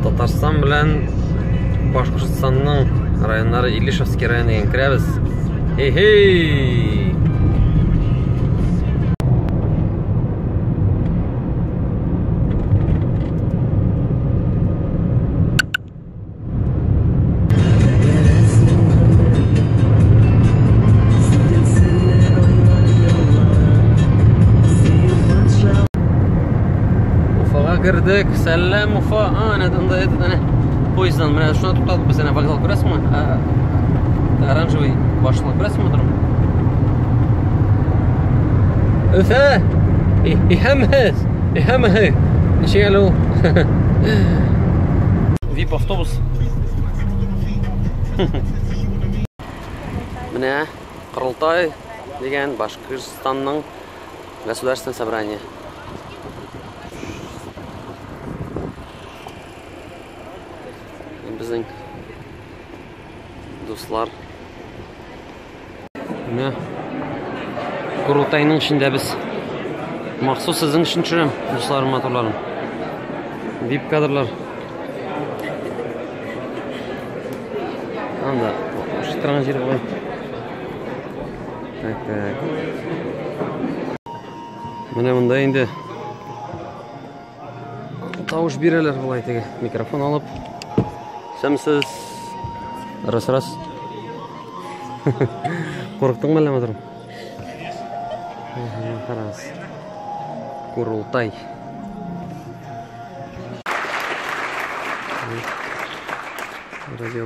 Татарстан белән Башкортстанның районнары Илишевский районы дигән керәбез. Хей-хей! кірдік сәлем уфа а әне анда этот әне поездан менә шунда туктадык без әнә вокзал күрәсеңме оранжевый башына күрәсеңме торым өфә ихәммәс Һәммәһе ничек әле ул? Вип автобус. Менә Кырылтай дигән Башкортстанның государственный собрание. Безнең дуслар. Менә Курултайның эчендә без махсус сезнең өчен төшерәм, дусларым, матурларым. Дип кадрлар. Анда шыттырган җир була. Так, так. Менә монда инде Тавыш бирәләр болай теге микрофон алып. Сәмсез. Раз раз. Курыктыңмы әллә матырым? Раз. Курултай. Радио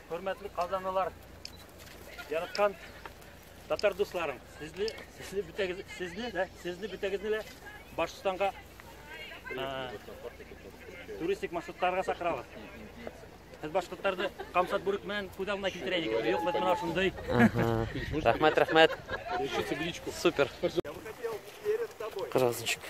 Хөрмәтле казанлылар, яраткан татар дусларым, сезне, сезне бөтәгез, сезне дә, сезне бөтәгезне дә Башкортстанга туристик маршрутларга сакырабыз. Без башкортларны Камшат бүрек белән күз алдына китерә идек. Юк, без менә шундый. Рәхмәт, рәхмәт. Супер. Кыргызчик.